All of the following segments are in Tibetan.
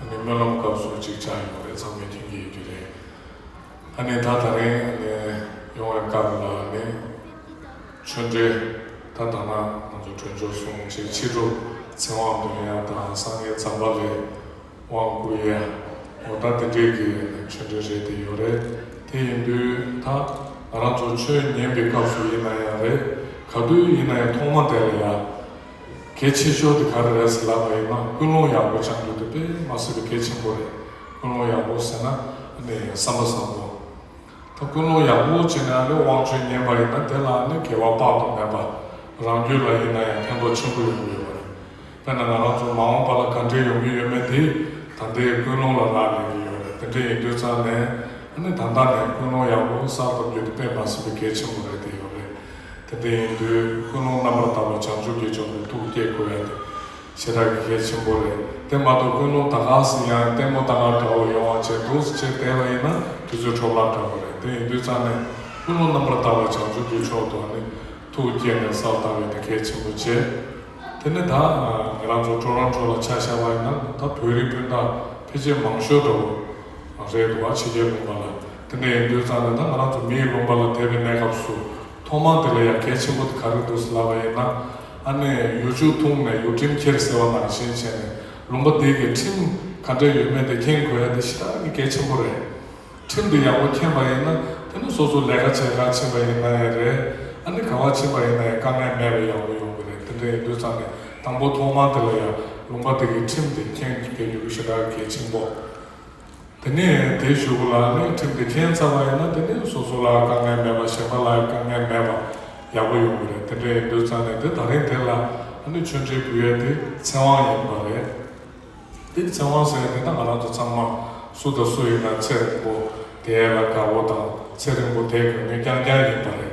ཨ་ནི་སྨོན་ལམ་སྐབས་སུ་གཅིག་ཆགས་ཡོང་བ་རེད་ཚང་མས་མཐུན་གྱི་ཡོད་རྒྱུ་རེད་ཨ་ནི་ད་ད་རིང་ཨ་ནི་ཡོང་བའི་སྐབས་ལ་ཨ་ནི་ཆོས་འབྲེལ་ད་ད་ང་ང་ཚོ་གྲོས་འཇོག་སོང་ཕྱིར་ཕྱི་དྲོ་ཚེ་དབང་དོན་ཡ་དང་སངས་རྒྱས་ཛམ་བྷ་ལའི་དབང་བསྐུར་ཡ་ཡོང་ད་དེ་འདྲའི་གི་ཨ་ནི་ཆོས་འབྲེལ་རེད་དེ་ཡོད་རེད་དེ་ཡིན་དུས་ད་ང་རང་ཚོ་ཆོས་ཉན་པའི་སྐབས་སུ་ཡིན་ན་ཡང་རེད་ག་དུས་ཡིན་ན་ཡང་ཐོག་མ་དེ་ལ་ཡ། གལ་ཆེ་ཤོས་དེ་ག་རེ་རེད་ཟེར་ལབ་པ་ཡིན་ན་ཀུན་སློང་ཡག་པོ་བཅང་རྒྱུ་དེ་དཔེ་མ་སྲིད་པའི་གལ་ཆེན་པོ་རེད། ཀུན་སློང་ཡག་པོ་ཟེར་ན་ནི་བསམ་པ་བཟང་པོ། ད་ཀུན་སློང་ཡག་པོ་བྱེད་ནའང་རེད་དབང་ཆོས་ཉན་པ་ཡིན་ན་དེ་ལའང་ནི་འགལ་བ་དཔག་ཏུ་མེད་པ། རང་རྒྱུད་ལ་ཡིན་ན་ཡང་ཕན་ཐོགས་ཆེན་པོ་ཡོང་གི་ཡོད་པ་རེད། དཔེར་ན་ང་རང་ཚོ་མ་འོངས་པ་ལ་ག་འདྲའི་ཡོང་གི་ཡོད་མེད་དེ་ད་ལྟའི་ཀུན་སློང་ལ་རག་ལས་ཀྱི་ཡོད་རེད་དེ་འདྲ་ཡིན་དུས་ཙང་ནས་ནི་ད་ལྟ་ནས་ཀུན་སློང་ཡག་པོ་གསར་ཐོབ་རྒྱུ་དེ་དཔེ་མ་སྲིད་པའི་གལ་ཆེན་པོ་རེད་དེ་ཡོད་རེད། དེ་དེ་ཡིན་དུས་ཀུན་སློང་རྣམ་པར་དག་པའི་བྱང་ཆུབ་ཀྱི་ཕྱོགས་སུ་ཐུགས་བསྐྱེད་དགོས་ཡ་དེ་བྱེ་བྲག་གི་གལ་ཆེན་པོ་རེད་དེ་མ་གཏོགས་ཀུན་སློང་ད་གང་སྲིད་ཡང་ལྟད་མོ་ལྟ་གང་འདྲ་བོ་ཡོང་བ་བྱས་འདུག་ཅེས་བསྡད་པ་ཡིན་ན་དུས་ཚོད་འཕྲོ་བརླག་འདྲ་བོ་རེད་དེ་ཡིན་དུས་རྩ་ནས་ཀུན་སློང་རྣམ་པར་དག་པའི་བྱང་ཆུབ་ཀྱི་ཕྱོགས་སུ་ནི་ཐུགས་བསྐྱེད་ནས་གསལ་བཏབ་ཡོད་དེ་གལ་ཆེན་པོ་བྱས་དེ་ནི་ད་ང་རང་ཚོ་འཕྲོ་རང་འཕྲོ་ལ་ཆ་བཞག་པ་ཡིན་ན་ད་བོད་རིགས་སྤུན་ཟླ་ཕལ་ཆེར་མང་ཤོས་འདྲ་བོ་རེད་འདུག་བ་ཕྱི་རྒྱལ་ལུང་པ་ལ་དེ་ནས་ཡིན་དུས་ཙམ་ལས་ན་ང་རང་ཚོ་མིའི་རླུང་པ་ལ་དད་པའི་གནས་སྐབས་སུ་ཐོག་མར་དེ་ལ་ཡ་གལ་ཆེན་པོ་དེ་ག་རེ་འདུག་ཟེར་ལབ་པ་ཡིན་ན། ཨ་ནེ། ཡུག་ཆུ་འཐུང་ནས་ཡུག་ཁྲིམས་འཁྱེར་ཟེར་བ་ནང་བཞིན་བྱས་ནས་ལུང་པ་འདི་གི་ཁྲིམས་ག་འདྲས་ཡོད་མེད་དེ་མཁྱེན་དགོས་ཡ་དེ་ཤི་ད་རང་གི་གལ་ཆེན་པོ་རེད། ཁྲིམས་དེ་ཡག་པོ་མཁྱེན་པ་ཡིན་ན་དེ་ནི་སོ་སོ་ལས་ཀ་བྱས་ཁར་ཕྱིན་པ་ཡིན་ན་ཡང་རེད། ཨ་ནེ་ག་བར་ཕྱིན་པ་ཡིན་ན་ཡང་དཀའ་ངལ་མེད་པའི་ཡག་པོ་ཡོང་གི་རེད་དེ་འདྲས་ཡིན་དུས་ཙམ་ལས་དང་པོ་ཐོག་མར་དེ་ལ་ཡ་ལུང་པ་དེ་གི་ཁྲིམས་དེ་མཁྱེན་དགོས་རྒྱུ་ཤི་ད་གལ་ཆེན་པོ། དེ་ནས་དེ་བཞུགས་པ་ལ་གླིང་ཁྲིམས་དེ་མཁྱེན་ཚར་བ་ཡིན་ན་དེ་ནས་སོ་སོ་ལ་དཀའ་ངལ་མེད་པ་གཞན་པ་ལ་དཀའ་ངལ་མེད་པ་ཡག་པོ་ཡོང་གི་རེད་དེ་འདྲའི་འདོད་ཚང་ནས་དེ་ད་རིང་དེ་ལ་ཨ་ནུ་ཆོས་འབྲེལ་བུ་ཡོད་དེ་ཚེ་དབང་ཡིན་པ་རེད་དེ་ཚེ་དབང་ཟེར་ནས་ང་རང་ཚོ་ཚང་མ་སུ་དང་སུ་ཡིན་ན་ཚེ་རིང་པོ་དེ་ཡལ་ལ་དགའ་བོ་དང་ཚེ་རིང་པོ་དེ་གང་ངེ་རྐྱང་རྐྱང་ཡིན་པ་རེད།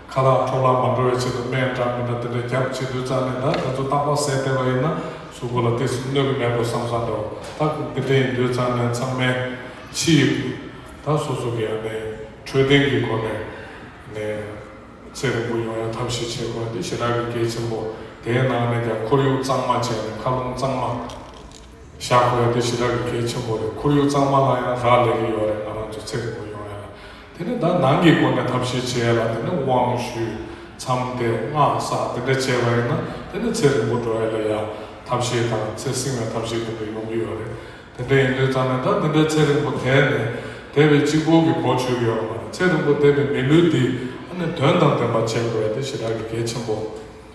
ཁ་རག་འཕྲོག་རླག་མ་འགྲོ་བའི་ཆེད་དུ་སྨན་འདྲ་མི་འདྲ་དེ་འདྲ་བརྒྱབ་བྱེད་དུས་རྩ་ནས་ད་དེ་ཚོ་སྟག་ལྤགས་བཟས་བསྡད་པ་ཡིན་ན་གཟུགས་པོ་ལ་དེ་བཞིན་གནོད་ཀྱི་མེད་དོ་བསམ་བསམ་རེད་བ་ད་ཁུག་དེ་འདྲ་ཡིན་དུས་རྩ་ནས་ཚང་མའི་ཕྱི་ཡི་ད་སོ་སོ་གི་ཡང་ནི་འཕྲོད་བསྟེན་གྱི་སྒོ་ནས་ནས་ཚེ་རིང་པོ་ཡོང་ཡ་ཐབས་ཤིག་བྱེད་དགོས་འདི་ཞེ་དྲག་གི་གལ་ཆེན་པོ་དེའི་ནང་ནས་ཀྱང་ཁོར་ཡུག་གཙང་མ་བྱས་ནས་མཁའ་རླུང་གཙང་མ་བཞག་དགོས་འདི་ཞེ་དྲག་གི་གལ་ཆེན་པོ་རེད་ཁོར་ཡུག་གཙང་མ་ལ་ཡང་རག་ལས་ཀྱི་ཡོད་རེད་ང་རང་ཚོ་ཚེ་རིང་པོ་ཡོང་ཡ་ལ། དེ་ནས་དག་སྣང་གི་སྒོ་ནས་ཐབས་ཤེས་བྱས་ལ་དེ་ནས་དབང་བཞུ། མཚམས་ཏེ་སྔགས་བསགས་དེ་འདྲ་བྱས་པ་ཡིན་ན་དེ་ནས་ཚེ་རིང་པོ་འགྲོ་ཡ་ལ་ཡ། ཐབས་ཤེས་དང་ཚེ་བསྲིང་བའི་ཐབས་ཤེས་དེ་འདྲ་ཡོང་གི་ཡོད་རེད། དེ་འདྲ་ཡིན་དུས་ཙམ་ནས་དག་འདི་འདྲ་ཚེ་རིང་པོ་དད་ནས་དད་པའི་སྤྱི་བོ་གི་སྒོ་ཆོད་གི་ཡོད་པ་མ་རེད་ཚེ་རིང་པོ་དད་པའི་མི་ལུས་འདི་ཨ་ནི་དོན་དང་ལྡན་པ་བྱེད་དགོས་པ་དེ་ཞེ་དྲག་གི་གལ་ཆེན་པོ་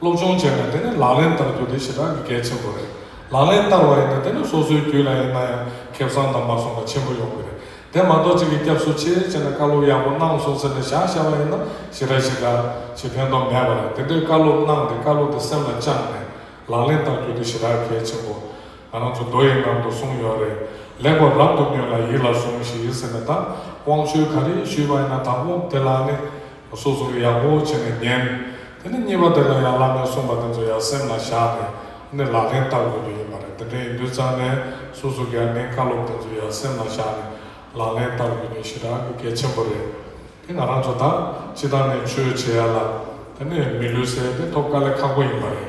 སློབ་སྦྱོང་བྱས་ནས་དེ་ནི་ལག་ལེན་བསྟར་རྒྱུ་དེ་ཞེ་དྲག་གི་གལ་ཆེན་པོ་རེད། ལག་ལེན་བསྟར་བ་ཡིན་ན་དེ་ནི་སོ་སོའི་རྒྱུད་ལ་ཡིན་ན་ཡང་ཁེ་བཟང་དང་བར་སོང་པ་ཆེན་པོ་ཡོང་གི་རེད། དེ་མ་གཏོགས་གཅིག་གིས་སྐྱབས་སུ་མཆི་བྱས་ནས་བཀའ་སློབ་ཡག་པོ་གནང་སོང་ཟེར་ནས་བཞག་བཞག་པ་ཡིན་ན་ཞེ་དྲག་ཞེ་དྲག་ཞེས་ཕན་ཐོགས་མེད་པ་རེད། དེ་འདྲའི་བཀའ་སློབ་གནང་སྟེ་བཀའ་སློབ་དེ་སེམས་ལ་བཅངས་ནས་ལག་ལེན་བསྟར་རྒྱུ་དེ་ཞེ་དྲག་གལ་ཆེན་པོ། ང་རང་ཚོ་མདོ་ཡི་ནང་དུ་གསུངས་ཡོད་རེད། ལེགས་པར་རབ་ཏུ་ཉོན་ལ་ཡིད་ལ་ཟུང་ཞིག་ཟེར་ནས་དང་དབང་ཆོས་ག་རེ་ཞུས་པ་ཡིན་ན་དང་དབང་དེ་ལ་ནི། སོ་སོར་ཡག་པོ་བྱས་ནས་ཉན། དེ་ནས་གཉིས་པ་དེ་ལ་ཡང་བླ་མས་གསུངས་པ་དེ་ཚོ་ཡང་སེམས་ལ་བཞག་ནས་ནི་ལག་ལེན་བསྟར་དགོས་ཀྱི་ཡོད་པ་རེད་དེ་འདྲའི་ཡིན་དུས་ཙམ་ནས་སོ་སོ་དགེ་རྒན་བཀའ་སློབ་དེ་ཚོ་ཡང་སེམས་ལ་བཞག་ནས་ལག་ལེན་བསྟར་དགོས་ནི་ཞེ་དྲག་གི་གལ་ཆེན་པོ་རེད། དེ་ང་རང་ཚོ་ད་ཅི་ད་ནས་ཆོས་བྱེད་ཡ་ལ་དེ་ནས་མི་ལུས་སའི་དེ་ཐོབ་དཀའ་ལས་ཁག་པོ་ཡིན་པ་རེད།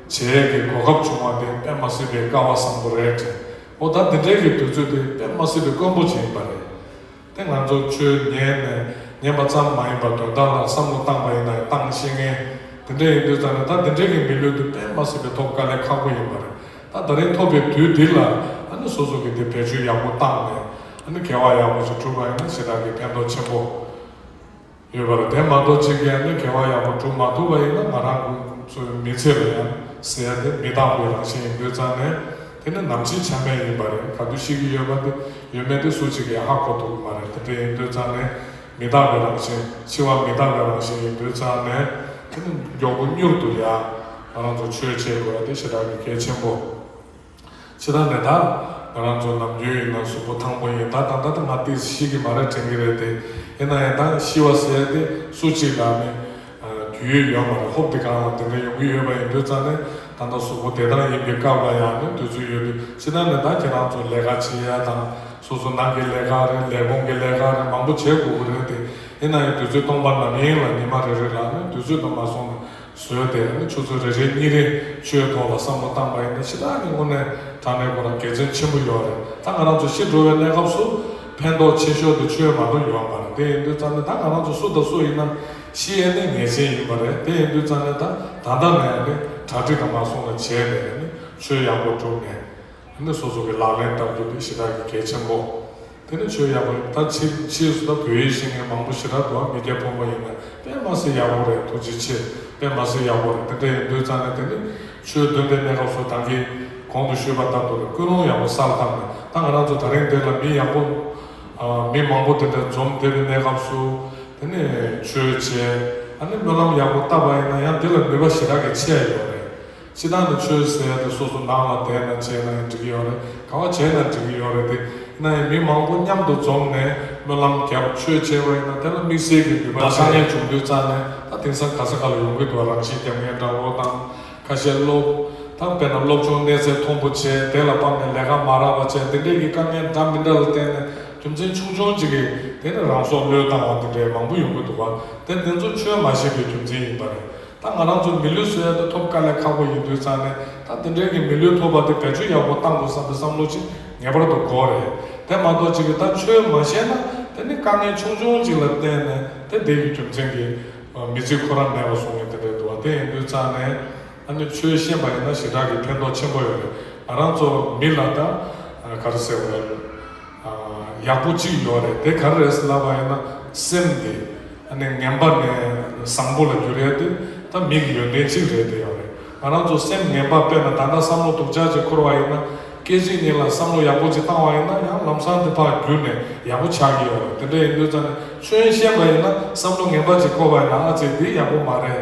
བྱས་རས་ཀྱི་གོ་སྐབས་བྱུང་བ་དེ་དཔེ་མ་སྲིད་པའི་སྐལ་བ་བཟང་པོ་རེད་དྲན། འོ་ད་འདི་འདྲའི་གི་དུས་ཚོད་དེ་དཔེ་མ་སྲིད་པའི་དཀོན་པོ་ཞིག་ཡིན་པ་རེད། དེ་ང་ཚོ་ཆོས་ཉན་ནས་ཉན་པ་ཙམ་མ་ཡིན་པར་དོན་དག་ལ་བསམ་བློ་བཏང་པ་ཡིན་ན་བཏང་བཤད་ངན། དེ་འདྲ་ཡིན་དུས་ཙམ་ནས་ད་འདི་འདྲའི་གི་མི་ལུས་འདུག་དཔེ་མ་སྲིད་པའི་ཐོབ་དཀའ་ལས་ཁག་པོ་ཡིན་པ་རེད། ད་ད་རིང་ཐོབ་པའི་དུས་འདི་ལ་ཨ་ནི་སོ་སོ་གི་དེ་བེད་སྤྱོད་ཡག་པོ་བཏང་ནས་ཨ་ནི་གལ་བ་ཡག་པོ་ཞིག་གྲུབ་པ་ཡིན་ན་ཞེ་དྲག་གི་ཕན་ཐོག་ཆེན་པོ། ཡོད་པར་དེ་མ་གཏོགས་སྤྱི་སྒེར་ནས་འགལ་བ་ཡག་པོ་གྲུབ་མ་ཐུབ་པ་ཡིན་ན་ང་རང་གི་ཚོའི་མི་ཚེ་ལ་ཡང་ཟེར་ཏེ་མི་དྭངས་པའི་རང་བཞིན་ཡིན་དུས་ཙང་ནས་དེ་ནི་ནམ་ཕྱེད་ཆ་མེད་ཡིན་པ་རེད་ག་དུས་ཤི་གི་ཡོད་པ་དེ་ཡོད་མེད་དེ་སུ་གཅིག་གིས་ཧ་གོ་ཐུབ་ཀྱི་མ་རེད་དེ་འདྲ་ཡིན་དུས་ཙང་ནས་མི་དྭངས་པའི་རང་བཞིན་འཆི་བ་མི་དྭངས་པའི་རང་བཞིན་ཡིན་དུས་ཙང་ནས་དེ་ནི་མགྱོགས་པོ་མྱུར་དུ་ཡང་ང་རང་ཚོ་ཆོས་བྱེད་དགོས་པ་དེ་ཞེ་དྲག་གི་གལ་ཆེན་པོ། ཕྱི་ནང་མེད་ད། ང་རང་ཚོ་ནམ་རྒྱུན་ཡིན་ན་གཟུགས་པོ་ཐང་པོ་ཡིན་ད་ད་ལྟ་ང་ཏི་ཟི་ཤིག་གི་མ་རེད་དྲན་གི་རེད་དེ། ཡིན་ན་ཡིན་ད་ཤི་བ་ཟེར་དེ་སུ་གཅིག་ལ་ནི། རྒྱུས་ཡོད་ཡོད་མ་རེད་ཧོབ་དེ་གང་ལ་དེ་འདྲ་ཡོང་གི་ཡོད་པ་ཡིན་དུས་ཙང་ནི་ད་ལྟ་གཟུགས་པོ་བདེ་ཐང་ཡིན་པའི་སྐབས་ལ་ཡང་ནི་དུས་ཚོད་ཡོད་དུས་ཕྱི་ནང་མེད་ད་ཁྱེད་རང་ཚོ་ལས་ཀ་བྱེད་ཡ་དང་སོ་སོ་ནང་གི་ལས་ཀ་རེད་ལས་གོང་གི་ལས་ཀ་རེད་མང་པོ་བྱེད་དགོས་ཀི་རེད་དེ། ཡིན་ན་ཡིན་དུས་ཚོད་སྟོང་པ་ནམ་ཡིན་ལ་ཉི་མ་རེ་རེ་ལ་ནི་དུས་ཚོད་དུ་མ་སོང་ན་བཟོས་ཏེ་ཨ་ནི་ཁྱོད་ཚོ་རེ་རེས་གཉིས་རེ་ཁྱོའི་ཐོག་ལ་བསམ་བློ་བཏང་པ་ཡིན་ན་ཕྱི་ལྟར་གྱི་སྔོན་ནས་དྲང་གནས་ཁོ་རང་དགེ་མཚན་ཆེན་པོ་ཡོད་རེད་ད་ང་རང་ཚོ་ཤི་འགྲོ་བའི་གནས་སྐབས་སུ་ཕན་ཐོག་ཆེ་ཤོས་དེ་ཁྱོའི་མ་ནོར་ཡོང་བ་རེད་དེ་ཡིན་དུས་རྩ་ནས་ད་ང་རང་ཚོ་སུ་དང་སུ་ཡིན་ན་ཤི་ཡས་ནས་ངེས་ཅན་ཡིན་པ་རེད་དེ་ཡིན་དུས་རྩ་ནས་ད་ད་ལྟ་ནས་ཨ་ནི་གྲ་སྒྲིག་དང་མ་སོང་ལ་བྱས་ཏེ་ཨ་ནི་ཆོས་ཡག་པོ་བསྒྲུབས་ནས་ཨ་ནི་སོ་སོ་གི་ལག་ལེན་བསྟར་རྒྱུ་དེ་ཞི་དར་གྱི་གལ་ཆེན་པོ། དེ་ནི་ཆོས་ཡག་པོ་རེད་ད་ཕྱིས་ཕྱིས་སུ་ད་བོད་ཡིག་ཤེས་མཁན་མང་པོ་ཞེ་དྲག་འགྲོ་བ་མི་སྐྱ་ཕོ་མོ་ཡིན་ན་དཔེ་མ་ཟེར་ཡག་པོ་རེད་ཐུགས་རྗེ་ཆེ་དཔེ་མ་ཟེར་ཡག་པོ་རེད་དེ་འདྲ་ཡིན་དུས་ཙང་ནས་དེ་ནི་ཆོས་བདུན་པའི་གནས་སྐབས་སུ་ད་གིས་གོང་དུ་ཤོད་པ་ལྟར་དུ་རེད་ཀུན་སློང་ཡག་པོ་གསར་བཏང་ནས་ད་ང་རང་ཚོ་ད་རིང་འདིར་ལ་མི་ཡག་པོ་མི་མང་པོ་དེ་འདྲ་འཛོམས་དེ་བའི་གནས་སྐབས་སུ་དེ་ནི་ཆོས་བྱས་ཨ་ནི་སྨོན་ལམ་ཡག་པོ་བཏབ་པ་ཡིན་ན་ཡང་འདི་ལ་ནུས་པ་ཞེ་དྲག་གི་ཆད་ཡོད་རེད། སྤྱི་བཏང་དུ་ཆོས་ཟེར་ཡ་དེ་སོ་སོ་ནང་ལ་བསྡད་ན་བྱས་ན་ཡང་འགྲིག་གི་ཡོད་རེད་གང་བ་བྱས་ན་འགྲིག་གི་ཡོད་རེད་དེ་ན་ཡང་མི་མང་པོ་མཉམ་དུ་འཛོམས་ནས་སྨོན་ལམ་བརྒྱབ་ཆོས་བྱས་པ་ཡིན་ན་དེ་ལ་དམིགས་བསལ་གྱི་ནུས་པ་ཆགས་ཉེན་བྱུང་དུས་རྩ་ནས་ད་དེང་སང་ག་ས་ག་ལ་ཡོང་གི་འདུག་རང་བཞིན་རྒྱབ་ངན་སྦྲང་རོགས་དང་ཁ་ཤས་སློབ་དང་དཔེ་ན་སློབ་ཆུང་གནས་ཚད་མཐོང་པོ་བྱས་དེ་ལ་དཔག་ནས་ལས་ཀ་མ་རག་པ་བྱས་འདི་འདྲས་ཀྱི་དཀའ་ངལ་འདྲ་མི་འདྲ་ལ་བརྟེན་ནས་རྒྱུ་མཚན་ཆུང་ཆུང་གཅིག་གིས་དེ་ནས་རང་སྲོག་བློས་བཏང་བ་འདི་འདྲས་མང་པོ་ཡོང་གི་འདུག་བ་དེ་འདི་ཚོ་ཆོས་མ་ཤེས་པའི་རྒྱུ་མཚན་ཡིན་པ་རེད། ད་ང་རང་ཚོ་མི་ལུས་སོ་ཡ་དེ་ཐོབ་དཀའ་ལས་ཁག་པོ་ཡིན་དུས་ཙང་ནས་ད་དེ་འདྲའི་གི་མི་ལུས་ཐོབ་པ་དེ་བེད་སྤྱོད་ཡག་པོ་གཏང་དགོས་བསམ་པའི་བསམ་བློ་ཅིག་ངེས་པར་དུ་དགོས་རེད་དེ་མ་གཏོགས་ཅིག་གི་ད་ཆོས་མ་བྱས་ན་དེ་ནི་དཀའ་ངལ་ཆུང་ཆུང་ཅིག་ལ་བརྟེན་ནས་དེ་བསྡད་ཀི་རྒྱུ་མཚན་གི་མི་ཚེ་ཁོ་རང་མེད་པ་བཟུང་ངེས་དེ་འདྲའི་དུ་བ་དེ་ཡིན་དུས་ཙང་ནས་ཨ་ནི་ཆོས་ཤེས་པ་ཡིན་ན་ཞེ་དྲག་གི་ཕན་ཐོག་ཆེན་པོ་ཡོད་རེད་ང་རང་ཚོ་མི་ལ་ད་ག་རེ་ཟེར་བ་ཡིན། ཡག་པོ་གཅིག་ཡོད་རེད་དེ་ག་རེ་རེད་ཟེར་ལབ་པ་ཡིན་ན་སེམས་དེ་ནི་ངན་པ་ནས་བཟང་པོ་ལ་འགྱུར་ཡ་དེ་ད་མི་གི་ཡོན་ཏན་གཅིག་རེད་དེ་ཡོད་རེད་ང་རང་ཚོ་སེམས་ངན་པ་དཔེར་ན་ད་ལྟ་བསམ་བློ་དུག་ཆག་ཅིག་འཁོར་བ་ཡིན་ན་སྐད་ཅིག་ཉིད་ལ་བསམ་བློ་ཡག་པོ་ཅིག་བཏང་བ་ཡིན་ན་ཡང་ལམ་སང་དེ་ཕར་བསྒྱུར་ནས་ཡག་པོ་ཆག་གི་ཡོད་རེད་དེ་འདྲ་ཡིན་དུས་ཙང་ནས་ཆོས་ཡིན་ཤེས་པ་ཡིན་ན་བསམ་བློ་ངན་པ་ཅིག་འཁོར་བ་ཡིན་ན་ཨ་ཙི་འདི་ཡག་པོ་མ་རེད།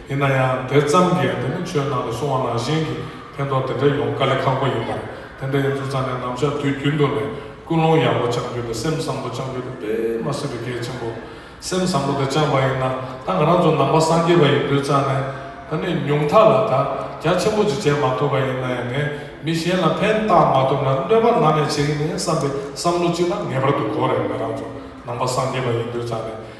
ཡིན་ན་ཡང་དེ་ཙམ་གྱིས་དེ་ནི་ཆོས་ནང་དུ་སོང་བ་ནང་བཞིན་གྱི་ཕན་ཐོགས་དེ་འདྲ་ཡོང་དཀའ་ལས་ཁག་པོ་ཡིན་པར་དེ་འདྲ་ཡིན་ཚུལ་ཚང་ནས་ནམ་ཞག་དུས་རྒྱུན་དུ་ནས་ཀུན་སློང་ཡག་པོ་བཅངས་རྒྱུ་དང་སེམས་བཟང་པོ་བཅངས་རྒྱུ་དེ་དཔེ་མ་སྲིད་པའི་གལ་ཆེན་པོ། སེམས་བཟང་པོ་དེ་བཅངས་པ་ཡིན་ན་ད་ང་རང་ཚོ་ནང་པ་སངས་རྒྱས་པ་ཡིན་དུས་ཙང་ནས་ད་ནི་ཉུང་མཐའ་ལ་དག་རྒྱ་ཆེན་པོ་ཅིག་བྱས་མ་ཐུབ་པ་ཡིན་ན་ཡང་ངས་མི་གཞན་ལ་ཕན་བཏགས་མ་ཐུབ་ན་གནོད་པ་ནང་ནས་བྱེད་ཀྱི་མིན་བསམ་པའི་བསམ་བློ་གཅིག་ད་ངེས་པར་དུ་དགོས་རེད་ང་རང་ཚོ་ནང་པ་སངས་རྒྱས་པ་ཡིན་དུས་ཙང་ནས་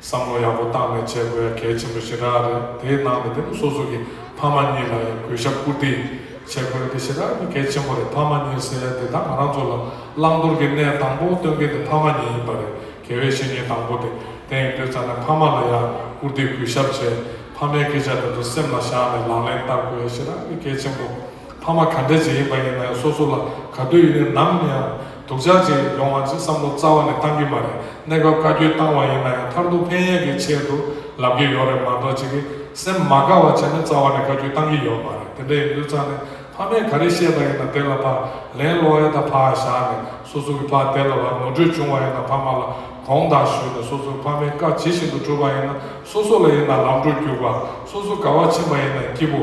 བསམ་བློ་ཡག་པོ་བཏང་ནས་བྱེད་དགོས་ཡ་གལ་ཆེན་པོ་ཞེ་དྲག་རེད་དེའི་ནང་ནས་དེ་མོ་སོ་སོ་གི་ཕ་མ་གཉིས་ལ་ཡང་གུས་ཞབས་བཀུར་བསྟི་བྱེད་དགོས་དེ་ཞེ་དྲག་གི་གལ་ཆེན་པོ་རེད་ཕ་མ་གཉིས་ཟེར་ཡ་དེ་དག་ང་རང་ཚོ་ལ་བླང་དོར་གི་གནས་དང་པོ་སྟོན་མཁན་དེ་ཕ་མ་གཉིས་ཡིན་པ་རེད་དགེ་བའི་བཤེས་གཉེན་དང་པོ་དེ་དེ་ཡིན་དུས་ཙང་ནས་ཕ་མ་ལ་ཡང་བཀུར་བསྟི་གུས་ཞབས་བྱེད་ཕ་མའི་སྐད་ཆ་དེ་ཚོ་སེམས་ལ་བཞག་ནས་ལག་ལེན་བསྟར་དགོས་ཡ་ཞེ་དྲག་གི་གལ་ཆེན་པོ། ཕ་མ་ག་འདྲ་ཅིག་ཡིན་པ་ཡིན་ན་ཡང་སོ་སོ་ལ་ག་དུས་ཡིན་ནའི་ནམ་ཡང་སྡུག་ཅག་ཅིག་ཡོང་བ་ཅིག་བསམ་བློ་རྩ་བ་ནས་བཏང་གི་མ་རེད་གནས་སྐབས་བཀའ་བཀྱོན་བཏང་བ་ཡིན་ན་ཡང་མཐར་ཐུག་ཕན་ཡས་ཀྱི་ཆེད་དུ་ལབ་ཀྱི་ཡོད་རེད་མ་གཏོགས་ཅིག་གིས་སེམས་མ་དགའ་བ་བྱས་ནས་རྩ་བ་ནས་བཀའ་བཀྱོན་བཏང་གི་ཡོད་མ་རེད་དེ་འདྲ་ཡིན་དུས་ཚང་ནས་ཕ་མས་ག་རེ་བཤད་པ་ཡིན་ན་དེ་ལ་ཕར་ལན་སློག་ཨེ་ད་ཕར་བཞག་ནས་སོ་སོ་གི་ཕ་དེ་ལ་བར་ངོ་སྤྲོད་བྱུང་བ་ཡིན་ན་ཕ་མ་ལ་གོང་བརྡ་ཞུས་ནས་སོ་སོའི་ཕ་མའི་བཀའ་ཇི་བཞིན་དུ་གྲུབ་པ་ཡིན་ན་སོ་སོ་ལ་ཡིན་ན་ལམ་འགྲོ་རྒྱུག་པ་སོ་སོ་དགའ་བ་ཕྱིན་པ་ཡིན་ན་སྐྱིད་པོ།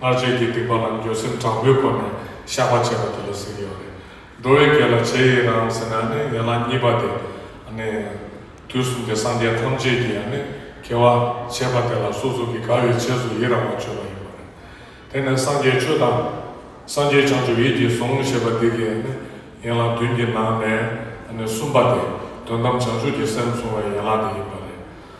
སྔར་རྗེས་ཀྱི་སྡིག་པ་རྣམས་འགྱོད་སེམས་དྲག་པོའི་སྒོ་ནས་བཤགས་པ་བྱས་པ་དེ་ལ་ཟེར་གྱི་ཡོད་རེད། འགྲོ་བའི་གེགས་ལ་བྱས་ཡིན་རང་ཟེར་ན་ནི་ཡན་ལག་གཉིས་པ་དེ་ནི། དུས་གསུམ་གྱི་སངས་རྒྱས་ཐམས་ཅད་ཀྱིས་ནི་གེགས་བ་བྱས་པ་དེ་ལ་སོ་སོ་གྱི་དགའ་བའི་བྱས་སུ་ཡི་རང་བ་བརྗོད་པ་ཡིན་པ་རེད། དེ་ནི་སངས་རྒྱས་ཆོས་དང། སངས་རྒྱས་བྱང་ཆུབ་ཡིད་ཀྱིས་ཟུང་ཞེས་པ་འདི་གའི་ནི་ཡན་ལག་བདུན་གྱི་ནང་ནས་ནི་གསུམ་པ་དེ་དོན་དམ་བྱང་ཆུབ་ཀྱི་སེམས་བཟུང་བའི་ཡན་ལག་དེ་ཡིན་པ་རེད།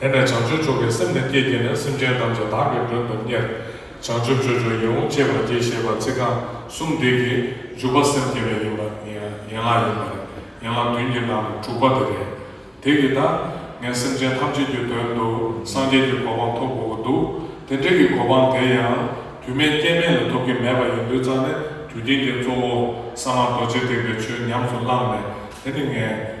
དེ་ནས་བྱང་ཆུབ་མཆོག་གི་སེམས་ནི་བསྐྱེད་བསྐྱེད་ནས་སེམས་ཅན་ཐམས་ཅད་བདག་གི་མགྲོན་དུ་གཉེར། བྱང་ཆུབ་ཆོས་འབྱུང་ཡིད་འོང་ཅེས་པ་འདི་ཞེས་པ་ཚིག་རྐང་གསུམ་འདི་གི་འཇུག་པ་སེམས་བསྐྱེད་པའི་ཡན་ལག་ཡིན་པ་རེད། ཡན་ལག་བདུན་གྱི་ནང་ནས་དྲུག་པ་དེ་རེད། དེ་གི་ད་ངས་སེམས་ཅན་ཐམས་ཅད་ཀྱི་དོན་དུ་སངས་རྒྱས་ཀྱི་གོ་འཕང་ཐོབ་དགོས་པོ་འདུག་དེ་འདྲའི་གི་གོ་འཕང་དེ་ཡང་དུས་མེད་སྐྱེ་མེད་ལ་ཐོབ་ཀྱི་མེད་པ་ཡིན་དུས་རྩ་ནས་དུས་དེང་གི་གཙོ་བོ་ས་མ་རྡོ་རྗེ་ཐེག་པའི་ཆོས་ཉམས་སུ་བླངས་ནས་དེ་ནི་ངས།